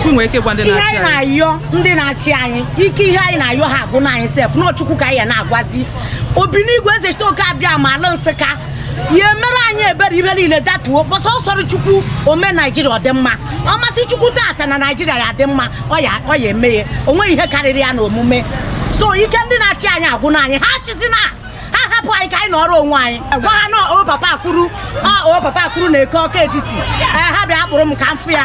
ị nwere ike gwa ndị ihe na-achị anyị anyị na-ayọ ndị na-achị anyị ike ihe anyị na-ayọ ha agwụna anyị sef na ọ chukwu ka anyị ya na-agwazi obinigwe eze chitoke abịama ala nsụka ya meere anyị ebere ihe niile datuo because ọ sọrọ chukwu o mee naijiria ọ dị mma ọ masị chukwu tata na naijiria ya-adị mma ọ ya ọ ya-eme ya o nweghị ihe karịrị ya na omume so ike ndị na-achị anyị agwụna anyị ha achịzina ha hapụ anyị ka anyị nọrọ onwe anyị gwa ha na ọ papa kwuru ọ papa kwuru na eke ọka etiti ha bịa kpụrụ m ka m fụ ya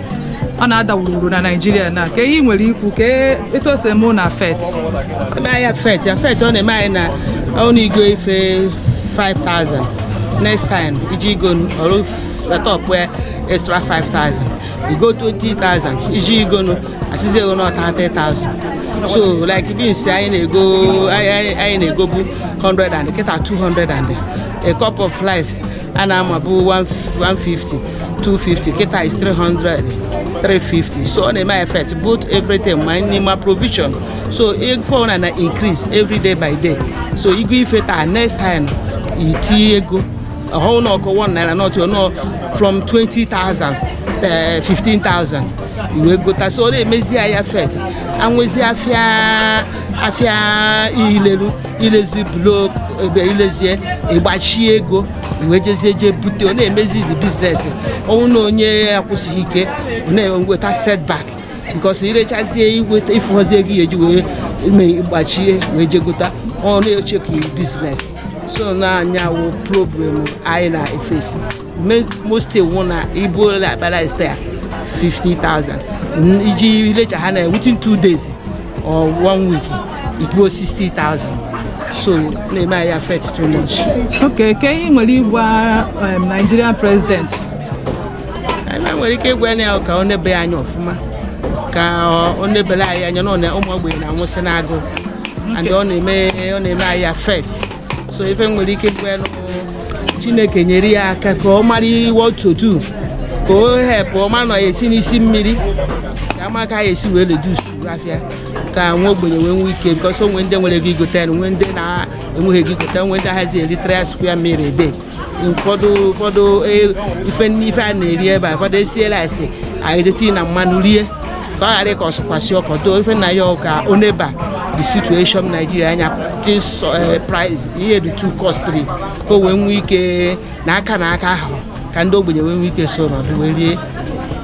ọ na-ada wuruwuru na naijiria na kee ihe i nwere ikwu kee etu o si eme ụnụ affect ebe ahịa affect affect ọ na-eme anyị na ọnụ i go ife 5000 next time i je igo ọrụ setọp ya extra 5000 i go 20000 i je igo nụ a sịzi gị na ọ 30000 so like beans anyị na-ego anyị anyị na-egobu 100 and kịta 200 and a cup of rice a na-amabu 150 250 kịta is 300 350 so ọ na-eme anyị effect both everything ma nri ma provision so ife ọbụla na-increase every day by day so i go ife taa next time i tinye ego ọ wụhọ na okwu 1 naira not you know from 20,000 eh, 15,000 i wee gota so ọ na-emezi anyị effect anwezi afịa afịa ileru ilezi blok ebe i lezie ị gbachi ego wee jezie jee bute ọ na-emezi the business ọ wụrụ na onye akwụsịghị ike ọ na-enweta setback because i rechazie i weta ị fụghọzi ego ị ya-eji wee megbachie wee jegota ọ na-eshake business so na ọ ya wụ problem anyị na-eface most wụ na i bulu like akpa rice taa 50,000 i je lecha ha na within two days or one week ị kwụọ 60,000 so ọ na-eme anyị affect too much okay kee ihe i nwere ịgwa um, Nigerian president anyị nwere ike ịgwa ya ka o nebe anya ọfụma ka o nebere anyị anya na ọ na- ụmụ ogbenye na-anwụsị n'agụụ and ọ na-eme ọ na-eme anyị affect so ife m nwere ike ịgwa ya na chineke nyere ya aka ka ọ mara iwe otu ka o help ọ ma na ọ ya-esi n'isi mmiri ka a ma ka ọ ya-esi wee reduce afịa ka nwa ogbenye wee nwee ike because o nwee ndị nwere ego igote ya nwee ndị na-enweghị ego igote nwee ndị ahazi eri three square meal a day ụfọdụ ụfọdụ e, ife nine ife a na-eri ebe a ụfọdụ esiela esi e jide tinye mmanụ rie ka ọ ghara ka ọsụkwasị ọkọ too ife na ya ka o neba the situation Nigeria anya this eh, price ihe dị too costly ka o wee nwee ike nye aka n'aka ahụ ka ndị ogbenye wee nwee ike so nọdụ wee rie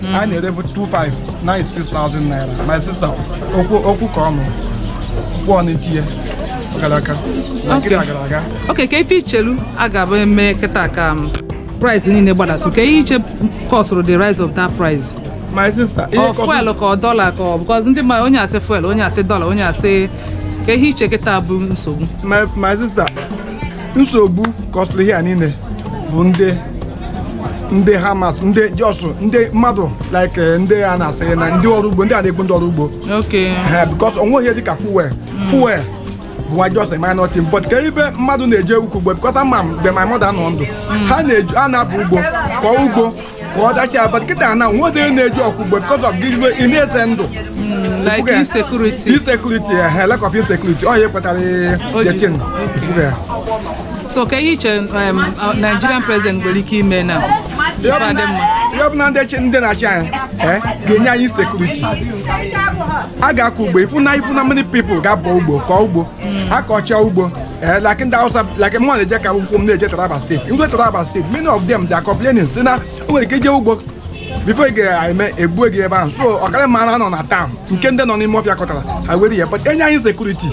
hmm. a na-erebu 25 now it's 6,000 naira my sister okwu ka ọnụ kwụọ n'itinye gara aka na nkiri gara aga okay kee ife i chelu a ga-eme kịta ka um, price niile gbadatụ kee ihe i che kọsụrụ the rise of that price my sister ọ fuel ka ọ dọla ka ọ because ndị mmadụ onye asị fuel onye asị dọla onye asị kee ihe i che kịta bụ nsogbu my sister nsogbu kọsịrị ihe a niile bụ ndị ndị farmers ndị just ndị mmadụ like eh, ndị a na-asị na ndị ọrụ ugbo ndị a na-egbu ndị ọrụ ugbo Okay. Eh, because o nwe ihe dịka fuel fuel bụ nwa just a minor thing but kee ebe mmadụ na-eje ịkọ ugbo because ama m mgbe my mother nọ ndụ ha na-eje a na-abọ ugbo kọọ ugbo ka ọ dachaa but kịta na o nwerọ onye na-eje ịkọ ugbo because of gịnị ị na-eze ndụ like Okay. insecurity insecurity eh, lack of insecurity ọ ya kpatara Okay. the thing. Ifufe ya. so kee ihe i che um, uh, nigerian president nwere ike ime na Ihe ọbụla- Adị mma. ihe ọ bụ na ndị chi- ndị na-achị anyị eh, ga-enye anyị security a ga-akọ ugbo ị fụ na ị fụ na many people ga-abọ ugbo kọọ ugbo akọcha ugbo ee like ndị awụsa like mụ na-eje ka akwụkwọ m na-eje taraba state ndị taraba state many of them they are complaining sị na o nwere ike ije ugbo before ị ga-eme egbue gị ebe ahụ so ọ kara mma a nọ na town nke ndị nọ n'ime ọfịa kọtara ha were ya but e nye anyị security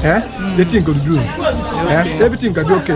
ee the thing ga-adị ee everything ga-adị okay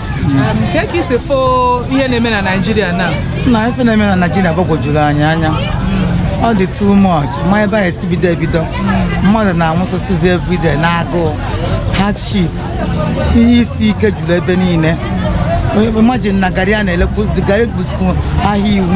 kee ka i si fụ ihe na-eme na naijiria na na ife na-eme na naijiria gbagwojuru anyị anya ọ dị too much ma ebe a si bido ebido mmadụ na-anwụsịsịzi everyday n'agụụ hardship ihe isi ike juru ebe niile imagine na garị a na-elekwu garị bụzikwu ahịa iwu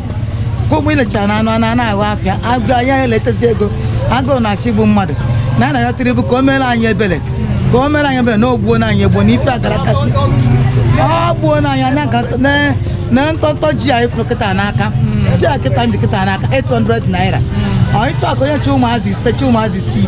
ka ụgbọ ilechara na anụ a na-ana ahụ afịa agụ anyị ahụ eletezi ego agụụ na-achọ igbu mmadụ na a na-ayọ tinubu ka o mere anyị ebere ka o mere anyị ebere na o gbuona anyị egbuo na ife agara kasị o gbuona anyị anya ga- na- na ntọntọ ji anyị fụrụ kịta n'aka ji a kịta m ji kịta n'aka 800 naira ọ ife a ka onye ji ụmụazị ise ji ụmụazị isii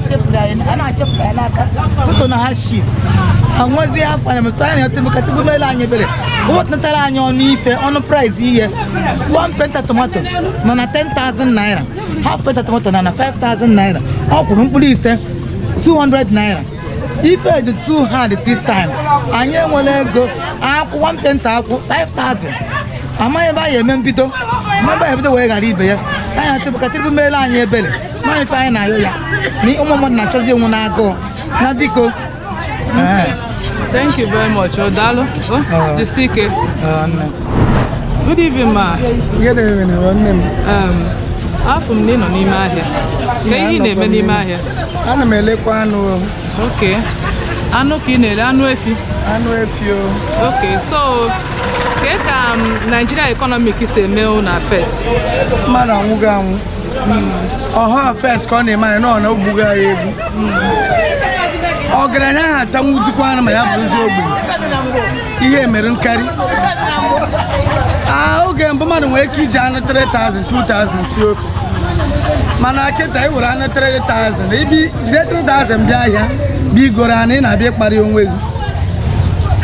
a na-achepụta ya n'aka tụtụ na hardship anwụzie akwa na mesara na ọtụtụ ka tinubu mele anyị ebere o wetutara anyị ọnụ ife ọnụ price ihe one painter tomato nọ na 10,000 naira half painter tomato nọ na 5,000 naira ọkwụrụ mkpụrụ ise 200 naira ife dị too hard this time anyị enwerọ ego akwụ one painter akwụ 5,000 amaghị ebe anyị eme mbido mmadụ ebido wee ghara ibe ya anyị asị bụ ka tinubu mele anyị ebere nwaanyị ife anyị na-ayọ ya na ụmụ mmadụ na-achọzi ịnwụ n'agụụ na biko Thank you very much. Oh, daalụ. Oh, uh, jisike. Uh, no. Good evening, ma. Good evening, nwanne m. Um, afụ m na ị nọ n'ime ahịa. Ka ihe ị na-eme n'ime ahịa? Ana m elekwa anụ. Okay. Anụ ka ị na-ele anụ efi? Anụ efi o. Okay, so kee ka um, Nigeria economic si eme unu affect? Mmadụ anwụgo anwụ. ọha affect ka ọ na-eme anyị nọ na o gbugo anyị egbu ọgaranya aha atanwuzikwa anụ ma ya bụrụzi ogbenye ihe mere nkarị Ah, oge mbụ mmadụ nwere ike iji anụ 3000 2000 sie ofe mana kịta ị were anụ 3000 ibi jide 3000 bịa ahịa bịa igoro anụ ị na-abịa ịkparị onwe gị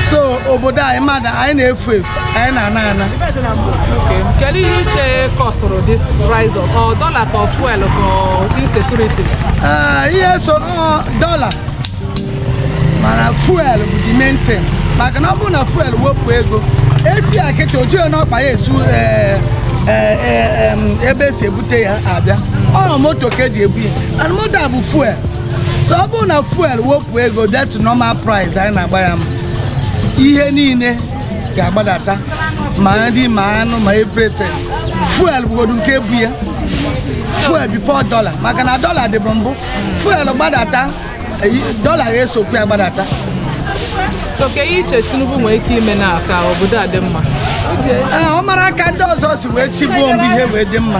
so obodo anyị mmadụ anyị na-efu efu anyị na-ana ana kedu ihe i che kọsụrụ this rise of ọ dollar ka fuel ka insecurity ah, ihe so dollar mana fuel bụ the main thing maka na ọ bụrụ na fuel wepụ ego efi a kịta o jighị n'ọkpa ya esi eh, eh, eh, ebe esi ebute ya abịa ọ moto ka eji ebu ya and moto a bụ fuel so ọ bụrụ na fuel wepụ ego bịa to normal price anyị na-agba ya mbụ ihe niile ga-agbadata ma nri ma anụ ma everything fuel bụgodu nke bu ya fuel before dollar maka na dollar dịbu mbụ fuel gbadata dollar ga-esokwu ya gbadata so ka ihe i che Tinubu nwere ike ime na ka obodo a dị mma ọ mara aka ndị ọzọ si wee chịbuo mgbe ihe wee dị mma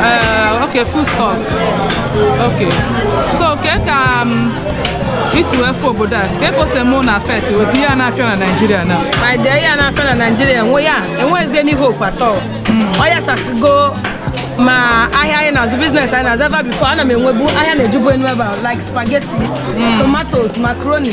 Uh, okay, foodstuff. Okay. So ka ka um, i si wee fụ obodo a kee ka o si eme unu affect with ihe a na-afịa na Nigeria now my dear ihe a na-afịa na Nigeria enweghịzi n'ihe okwu atọ ọ yasasịgo ma ahịa anyị na-azụ business anyị na-azụ ebe a before ana m enwebu ahịa na-ejubu enu ebe a like spaghetti tomatoes macaroni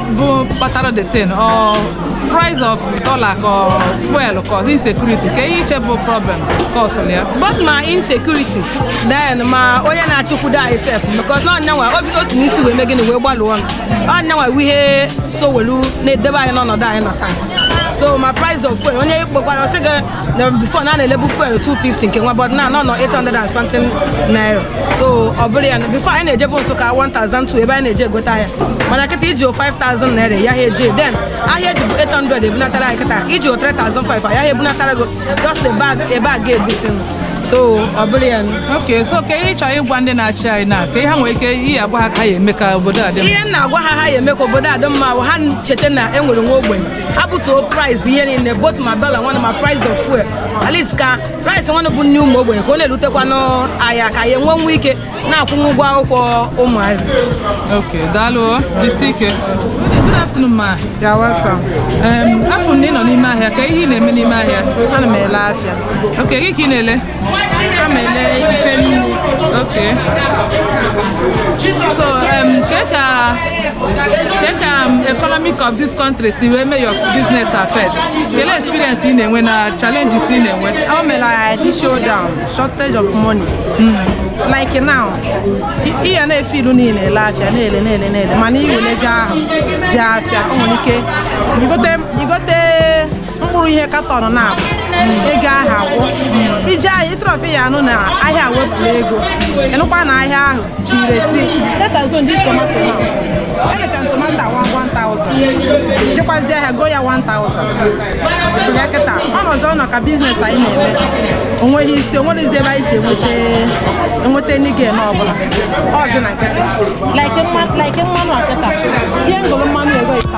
bụ kpatara the thing ọ price of dollar or fuel ka ọ insecurity ka ihe i che bụ problem cause ya both ma insecurity then ma onye na-achịkwudo anyị sef because na ọ nyanwa obi otu n'isi wee mee gịnị wee gbalụọ ọnụ ọ nyanwa wụ ihe so welu na-edebe anyị n'ọnọdụ anyị nọ taa so ma price of fuel onye ị kpọkwara ọ sị gị na before na a na-elebu fuel 250 nke nwa but now ọ nọ 800 and something naira so ọ bụrụ ya na before anyị na-ejebu Nsụka 1200 ebe anyị na-eje egote ahịa mana kịta i jiho 5000 naira ị yaha eje then ahịa e jibu 800 ebunatara anyị kịta i jiho 3500 a yaha ebunatara gị o just a bag a bag egusi so ọ bụrụ ya na ok so ka ihe ị chọrọ ịgwa ndị na-achị anyị na ka ihe ha nwere ike ihe agwa ha ka ya eme ka obodo a dị mma ihe m na-agwa ha ha ya eme ka obodo a dị mma bụ ha cheta na e nwere nwa ogbenye ebutuo price ihe niile both ma dollar nwanne ma price of fuel at least ka price nwanne bụ nne ụmụ ogbenye ka ọ na-elutekwanụ ha aka ya enwenwu ike na-akwụnwu ụgwọ akwụkwọ ụmụazị Okay, daalụ o, jisi ike. Good afternoon, ma. You're welcome. Um, afụ m na ị nọ n'ime ahịa, kee ihe ị na-eme n'ime ahịa? Ana m ele afịa. Okay, gịnị ka ị na-ele? economic of this country si wee mee your business affect kele experience ị na-enwe na challenges ị na-enwe o mere anyị slow down shortage of money hmm. like now ị ya na-efe ilu niile ele afịa na-ele na-ele na-ele mana i wele ego ahụ je afịa o nwere ike igote mkpụrụ ihe katọn naabọ ego ahụ agwụ i je ahịa isirọfi ya anụ na ahịa wepụrụ ego ị nụkwa na ahịa ahụ chiri eti let's assume this tomato now i lecha tomato awa 1000 jekwazi ahịa go ya 1000 ya kịta ọnọdụ ọ nọ ka business anyị na-eme o nweghị isi o nweghịzi ebe anyị si enweta enweta any gain ọbụla ọzọ na kịta like mmanụ a kịta ihe ngụrụ mmanụ ego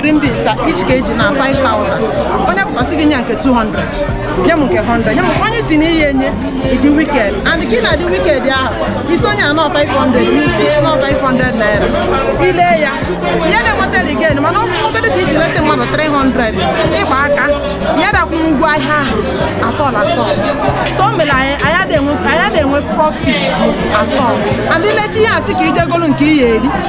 green beans ka each kg na 5000 onye pụta sị gị nye nke 200 nye m nke 100 nye m onye si na ihe enye ị dị wicked and ka ị na-adị wicked ahụ ị sị onye a na ọ 500 ị sị na ọ 500 naira i le ya ihe na-enweta gain mana ọ bụrụ ka i si lesị mmadụ 300 ịgba aka ya dakwụ ụgwọ ahịa ahụ at all at all so o mere anyị anyị adịghị enwe- anyị adịghị enwe profit at all and i lechaa ihe a sị ka i je golu nke ihe eri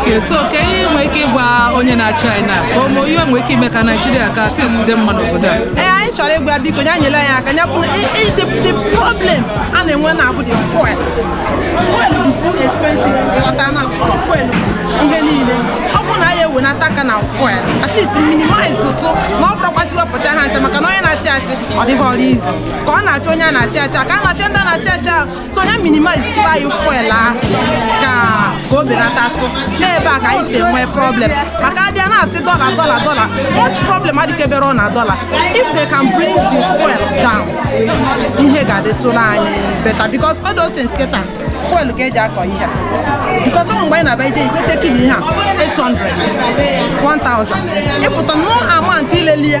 Okay, so kee ihe i nwere ike ịgwa onye na-achị anyị na ka ụmụ ihe nwere ike ime ka Naijiria ka things dị mma n'obodo a ee anyị chọrọ ịgwa biko ya nyere anyị aka ya bụrụ i- i- the the problem a na-enwe na-abụ the fuel fuel bụ too expensive ị ghọta na ọ fuel bụ ihe niile ọ bụrụ na ya ewenata aka na fuel at least minimize tụ na ọ bụrọkwa sị wepụcha ha ncha maka na onye na-achị achị ọ dịrọ easy ka ọ na-afịa onye a na-achị achị ka ọ na-afịa ndị a na-achị achị ahụ so ya minimize tụrụ anyị fuel ahụ ka ka o belatatụ n'ebe a ka anyị si enwe problem maka a bịa na-asị dollar dollar dollar much problem adịkeberọ na dollar if they can bring the fuel down ihe ga-adịtụrụ anyị better because all those things kịta fuel ka e ji akọ ihe a because ọ bụ mgbe anyị na-abịa ije igote kilo ihe a 800 1000 ị pụta no amount i leli ya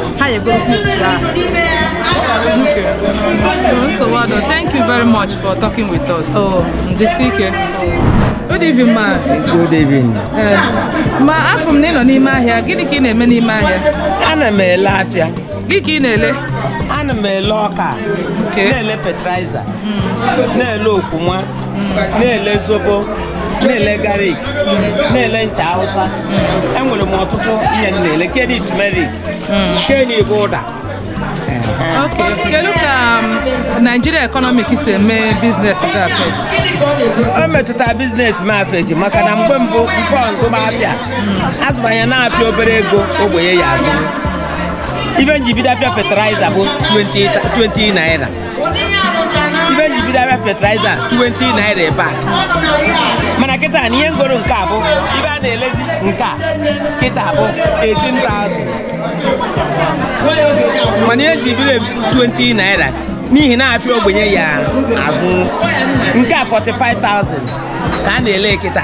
ha ya-egoro picture ahụ nsogbu adịrọ thank you very much for talking with us Oh. jisi ike good evening ma Good evening. Eh, ma afụ m na ị nọ n'ime ahịa gịnị ka ị na-eme n'ime ahịa Ana m ele afịa. gịnị ka ị na-ele Ana m ele ọka. Nke? Na-ele fertilizer. Na-ele okwuma. Na-ele zobo. Na-ele garlic. Na-ele ncha Hausa. enwere m ọtụtụ ihe m na-ele nke dị turmeric nke a bụ ụda Okay. Kedu ka um, Nigeria economic si eme business gị affect? o metụtara business m affect maka na mgbe mbụ nke ọ zụba afịa a zụbanye n'afịa obere ego ogbenye ya azụ ibe m ji bido afịa fertilizer bụ 20 20 naira ibe m ji bido afịa fertilizer 20 naira ebe a mana kịta na ihe m goro nke a bụ ibe a na-elezi nke a kịta bụ 18,000 mana ihe m ji bido 20 naira n'ihi na afịa ogbenye ya azụ nke a 45,000 ka a na-ele kịta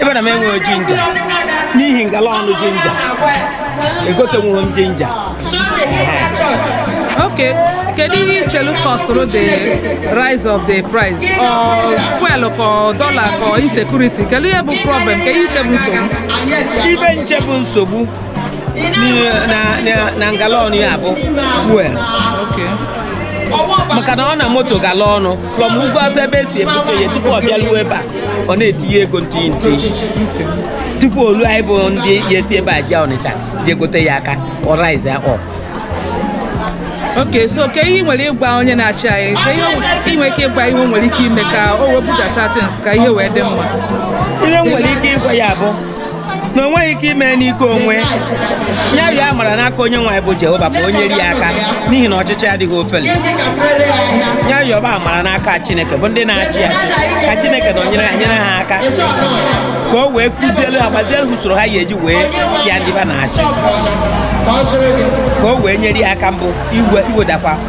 ebe na m enweghị ginger n'ihi ngala ọnụ ginger egotenwurọ m ginger Okay, kedu ihe i chelu kọsụrụ the rise of the price ọ fuel ka dollar ka insecurity kedu ihe bụ problem kedu ihe i che bụ nsogbu ibe m che bụ nsogbu n'ihe- na- na- na ngala ọnụ ya bụ fuel Okay. maka na ọ na moto gala ọnụ from ugwu Awụsa ebe e si ebute ya tupu ọ bịaruo ebe a ọ na-etinye ego nti nti tupu o luo anyị bụ ndị ya esi ebe a jee Ọnịcha jee gote ya aka ọ rise ya up okay so ke ihe ị nwere ịgwa onye na-achị anyị ke ihe o- ị nwere ike ịgwa ihe o nwere ike ime ka o wee budata things ka ihe wee dị mma ihe m nwere ike ịgwa ya bụ na o nweghị ike ime n'ike onwe ya rịọ amara n'aka onye nwe anyị bụ Jehova ka o nyere ya aka n'ihi na ọchịchị adịghị ofele ya rịọba amara n'aka Chineke bụ ndị na-achị achị ka Chineke nọnyere ha nyere ha aka ka o wee kuzielu ha gbazielu usoro ha ya-eji wee chịa ndị ba na-achị ka o wee nyere ya aka mbụ iwedakwa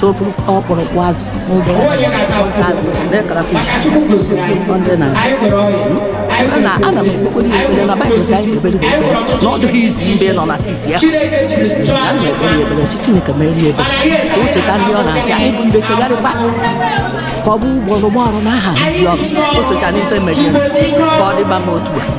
so ofu ọkpụrụkpụ azụ n'oge azụ ndị crayfish ọ ndị na na ana m ekpokodi ya ekpere na Baịbụl sị anyị ekpere ekpere na ọ dịghị easy mgbe ọ nọ na seat ya ana m ekpere ya ekpere sị Chineke mere ya ebere ka o cheta ndị ọ na-achị anyị bụ ndị chegharịkwa ka ọ bụ ụgwọ ọrụ ụgwọ ọrụ n'aha ndị ọrụ o cheta n'ife mere ka ọ dịba m otu a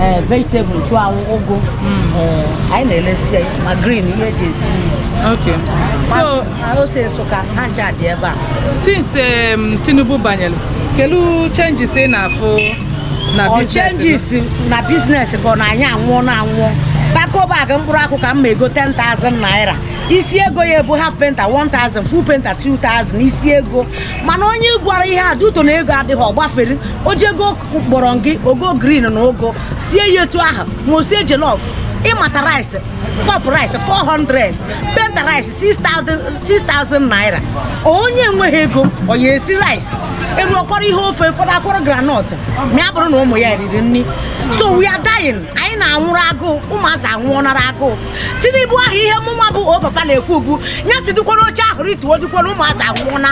ee vegetable nchụanwụ ugu ee, anyị na-elesi ya ma green ihe eji esi nri so Ma ose Nsụka ha ncha dị ebe a since um, Tinubu banyere kedu changes ị na-afụ na business changes na business bụ na anyị anwụọna anwụọ Bagco bag mkpụrụ akwụ ka m na-ego 10,000 naira isi ego ya ebu half painter 1000 full painter 2000 isi ego mana onye gwara ihe a duto na ego adịghị ọ gbafere o jego kpọrọ gị o goo green na ụgụ sie ya etu ahụ ma o sie jollof ịmata rice cup rice 400 painter rice 6000 naira onye enweghị ego ọ ya esi rice elu ọkwara ihe ofe ụfọdụ akwọrọ groundnut ma ya bụrụ na ụmụ ya riri nri so we are dying anyị na-anwụrụ agụụ ụmụazị anwụọnara agụụ tinubu ahụ ihe mụnwa bụ o papa na-ekwu bụ ya si dịkwara oche ahụ rituo dịkwara ụmụazị anwụna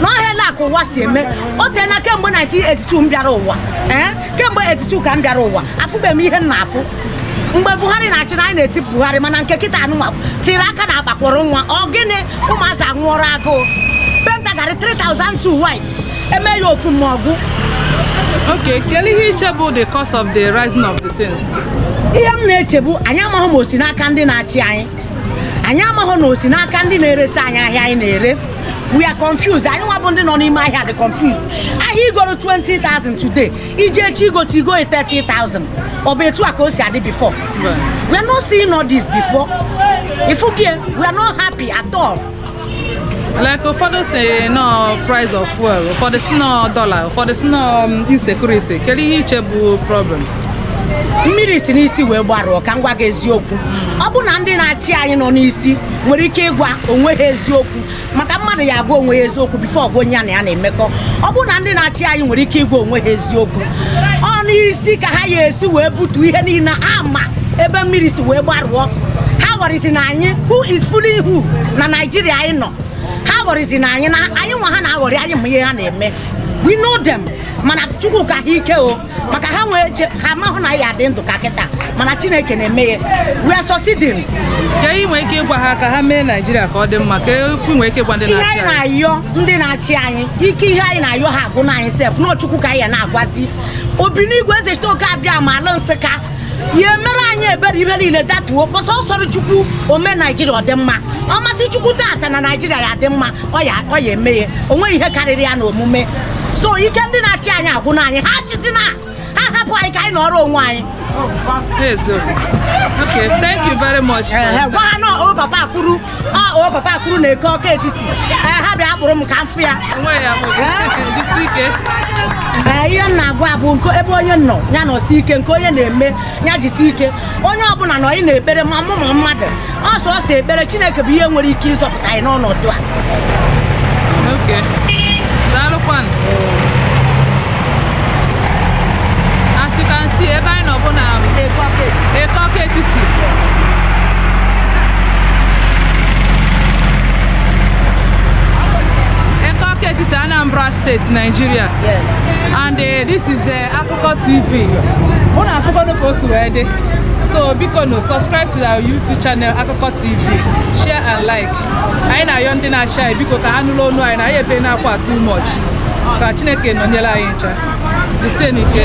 na ọhịa ka ụwa si eme o teela kemgbe 1982 m bịara ụwa ee kemgbe 82 ka m bịara ụwa afụbeghị m ihe m na-afụ mgbe buhari na-achị na anyị na-eti buhari mana nke kịta anụnwa tiri aka na akpakwụrụ nwa ọ gịnị ụmụazị anwụọrọ agụụ painter garị 3002 white eme ya ofu ma ọ gwụ Okay, kedu ihe i che bụ the cause of the rising of the things? ihe m na-eche bụ anyị amaghị ma o si n'aka ndị na-achị anyị anyị amaghị na o si n'aka ndị na-eresi anyị ahịa anyị na-ere we are confused anyị nwa bụ ndị nọ n'ime ahịa dị confused ahịa i goro 20,000 today i je echi igote i go 30,000 ọ bụ etu a ka o si adị before we are not seeing all this before ị fụgo ya we are not happy at all like ụfọdụ sị na ọ price of fuel ụfọdụ sị na ọ dollar ụfọdụ sị na ọ um, insecurity kedu ihe i che bụ problem mmiri si n'isi wee gbarụọ ka m gwa gị eziokwu ọ bụ na ndị na-achị anyị nọ n'isi nwere ike ịgwa onwe ha eziokwu maka mmadụ ya agwa onwe ya eziokwu before ọ gwa onye ya na ya na-emekọ ọ bụ na ndị na-achị anyị nwere ike ịgwa onwe ha eziokwu ọ n'isi ka ha ya esi wee butu ihe niile a ma ebe mmiri si wee gbarụọ ha aghọrịzịna anyị who is fooling who na naijiria anyị nọ ha aghọrịzịna anyị na anyị nwa ha na-aghọrị anyị ma ihe ha na-eme we know them mana chukwu ka ha ike o maka ha nwee eche ha mahụ na a ya-adị ndụ ka kịta mana chineke na-eme ya we are succeeding Kee ihe i nwe ike ịgwa ha ka ha mee Naijiria ka ọ dị mma kee okwu i nwee ike ịgwa ndị na-achị anyị. ihe anyị na-ayọ ndị na-achị anyị ike ihe anyị na-ayọ ha agwụna anyị sef na ọ chukwu ka anyị ya na-agwazi obinigwe ezechitoke abịama a na-asị ka ya meere anyị ebere ihe niile datuo because ọ sọrọ chukwu o mee naijiria ọ dị mma ọ masị chukwu tata na naijiria ya-adị mma ọ ya ọ ya eme ya o nweghị ihe karịrị ya na omume so ike ndị na-achị anyị agwụna anyị ha achịzina ha hapụ anyị ka anyị nọrọ onwe anyị Okay, thank you very much. gwa ha na o papa kwuru o papa kwuru na eke ọka etiti ha bịa kpụrụ m ka m fụ ya ihe m na-agwa bụ ebe onye nọ ya nọsie ike nke onye na-eme ya jisi ike onye ọbụla nọnị n'ekpere ma mmụọ ma mmadụ ọ sọọsọ ekpere Chineke bụ ihe nwere ike ịzọpụta anyị n'ọnọdụ a as you can see ebe anyị nọ bụ na Eke Awka-Etiti Eke Awka-Etiti Anambra State Nigeria yes and uh, this is the uh, Akụkọ TV unu afụkwanụ ka o si wee dị so bikonu subscribe to our YouTube channel Akụkọ TV share and like anyị na-ayọ ndị na-achị anyị biko ka ha nụrụ onu anyị na anyị ebena akwa too much ka Chineke nọnyere anyị ncha ise n'ike